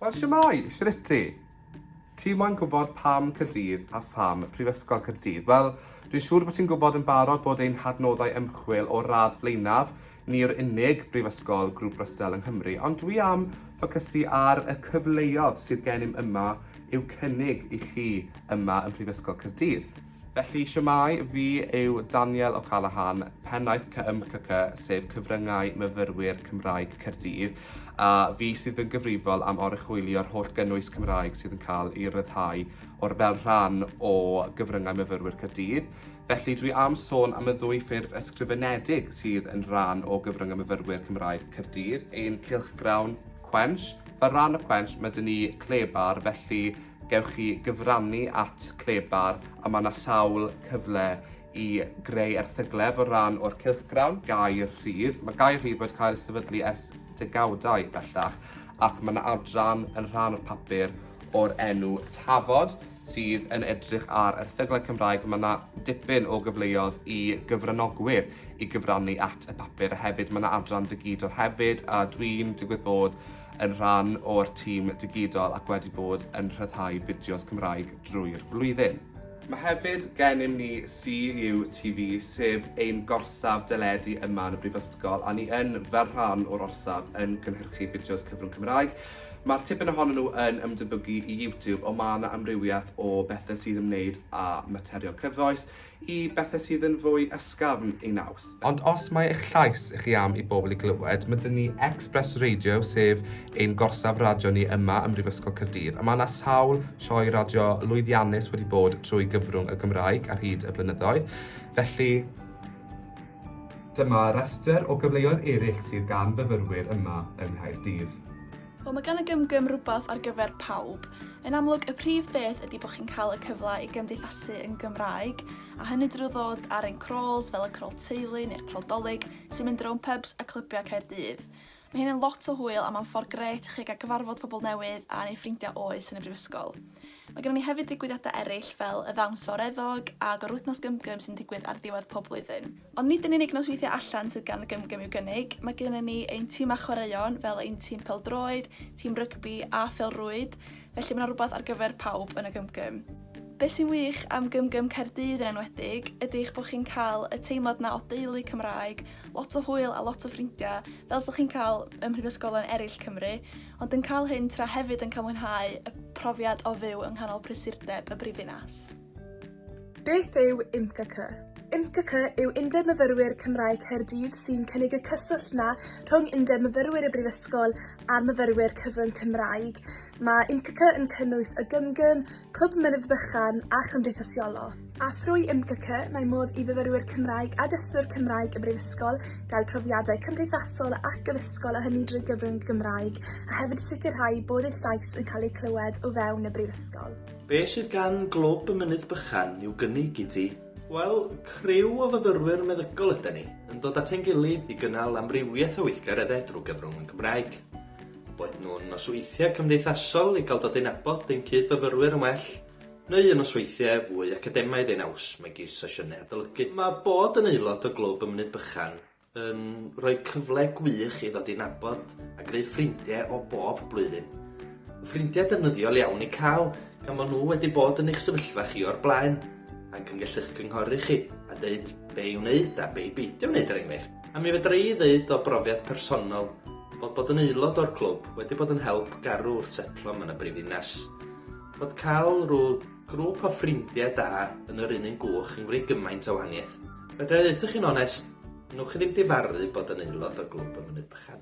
Wel, siamai, shriti. Ti moyn gwybod pam Cyrdydd a pham Prifysgol Cyrdydd? Wel, dwi'n siŵr bod ti'n gwybod yn barod bod ein hadnoddau ymchwil o'r radd flaenaf. Ni yw'r unig brifysgol grŵp Russell yng Nghymru, ond dwi am ffocysu ar y cyfleodd sydd gennym yma i'w cynnig i chi yma ym Mhrifysgol Cyrdydd. Felly, shwmae, fi yw Daniel O'Callaghan, pennaeth CMCC, sef Cyfryngau Myfyrwyr Cymraeg Caerdydd, a fi sydd yn gyfrifol am oruchwylio'r holl gynnwys Cymraeg sydd yn cael ei ryddhau o'r fel rhan o Gyfryngau Myfyrwyr Caerdydd. Felly, dwi am sôn am y ddwy ffurf ysgrifenedig sydd yn rhan o Gyfryngau Myfyrwyr Cymraeg Caerdydd, ein cylchgrawn Quench. Fel rhan o Quench, mae dyn ni Clebar, felly Gewch chi gyfrannu at Clebar a mae yna sawl cyfle i greu erthyglef o ran o'r cylchgrawn. Gair Rhydd. Mae Gair Rhydd wedi cael ei sefydlu ers degawdau bellach ac mae yna adran yn rhan o'r papur o'r enw Tafod sydd yn edrych ar erthyglau Cymraeg. Mae yna dipyn o gyfleoedd i gyfranogwyr i gyfrannu at y papur a hefyd mae yna adran ddigidol hefyd a dwi'n digwydd bod yn rhan o'r tîm digidol ac wedi bod yn rhyddhau fideos Cymraeg drwy'r flwyddyn. Mae hefyd gennym ni CUTV sef ein gorsaf deledu yma yn y Brifysgol a ni yn, fel rhan o'r orsaf, yn cynhyrchu fideos cyfrwng Cymraeg. Mae'r tipyn ohonyn nhw yn ymdebygu i YouTube ond mae yna amrywiaeth o bethau sydd ymwneud â materion cyfoes, i bethau sydd yn fwy ysgafn ei naws. Ond os mae eich llais chi am i bobl i glywed, mae dyn ni Express Radio, sef ein gorsaf radio ni yma ym Mhrifysgol Caerdydd, a mae yna sawl sioe radio lwyddiannus wedi bod trwy gyfrwng y Gymraeg ar hyd y blynyddoedd, felly dyma restr o gyfleoedd eraill sydd gan fyfyrwyr yma yng Nghaerdydd. Wel, mae gan y gymgym rhywbeth ar gyfer pawb. Yn amlwg, y prif beth ydy bod chi'n cael y cyfle i gymdeithasu yn Gymraeg, a hynny drwy ddod ar ein crawls fel y crawl teulu neu'r crawl dolig sy'n mynd rownd pubs a clybiau Caerdydd. Mae hyn yn lot o hwyl a mae'n ffordd gret i chi gael cyfarfod pobl newydd a neu ffrindiau oes yn y brifysgol. Mae gennym ni hefyd ddigwyddiadau eraill fel y Ddawns Fawreddog a Gorwythnos Gymgym sy'n digwydd ar ddiwedd pob blwyddyn. Ond nid yn unig nosweithiau allan sydd gan y Gymgym i'w gynnig, mae gennym ni ein timau chwaraeon fel ein tîm pêl-droed, tîm rygbi a phêl-rwyd, felly mae 'na rywbeth ar gyfer pawb yn y Gymgym. Be sy'n wych am Gymgym Caerdydd yn enwedig ydy eich bod chi'n cael y teimlad 'na o deulu Cymraeg, lot o hwyl a lot o ffrindiau, fel 'sa chi'n cael ym mhrifysgolion eraill Cymru, ond yn cael hyn tra hefyd yn cael mwynhau y profiad o fyw yng nghanol prysurdeb y brifddinas. Beth yw IMCCC? IMCCC yw Undeb Myfyrwyr Cymraeg Caerdydd sy'n cynnig y cyswllt na rhwng Undeb Myfyrwyr y Brifysgol a'r myfyrwyr cyfrwng Cymraeg. Mae IMCCC yn cynnwys y Gymgym, Clwb Mynydd Bychan a Chymdeithasiolo. A thrwy IMCCC mae modd i fyfyrwyr Cymraeg a dysgwyr Cymraeg y Brifysgol gael profiadau cymdeithasol ac addysgol a hynny drwy gyfrwng Gymraeg a hefyd sicrhau bod eu llais yn cael eu clywed o fewn y Brifysgol. Be' sydd gan Glwb y Mynydd Bychan i'w gynnig i ti? Wel, criw o fyfyrwyr meddygol ydan ni, yn dod at ein gilydd i gynnal amrywiaeth o weithgareddau drwy gyfrwng y Gymraeg. Boed nhw'n nosweithiau cymdeithasol i gael dod i nabod ein cyd-fyfyrwyr yn well, neu yn nosweithiau fwy academaidd ei naws megis sesiynau adolygu. Mae bod yn aelod o Glwb y Mynydd Bychan yn rhoi cyfle gwych i ddod i nabod a greu ffrindie o bob blwyddyn. Ffrindiau defnyddiol iawn i cael, gan fo' nhw wedi bod yn eich sefyllfa chi o'r blaen, ac yn gallu'ch cynghori chi, a deud be' i wneud a be' i beidio wneud er enghraifft. A mi fedra i ddeud o brofiad personol, bod bod yn aelod o'r clwb wedi bod yn help garw wrth setlo ma' 'na brifddinas. Bod cael rw Grŵp o ffrindiau da yn yr un un gwch yn gwneud gymaint o wahaniaeth. Fedra i ddeuthoch chi'n onest, newch chi ddim difaru bod yn aelod o Glwb y Mynydd Bychan.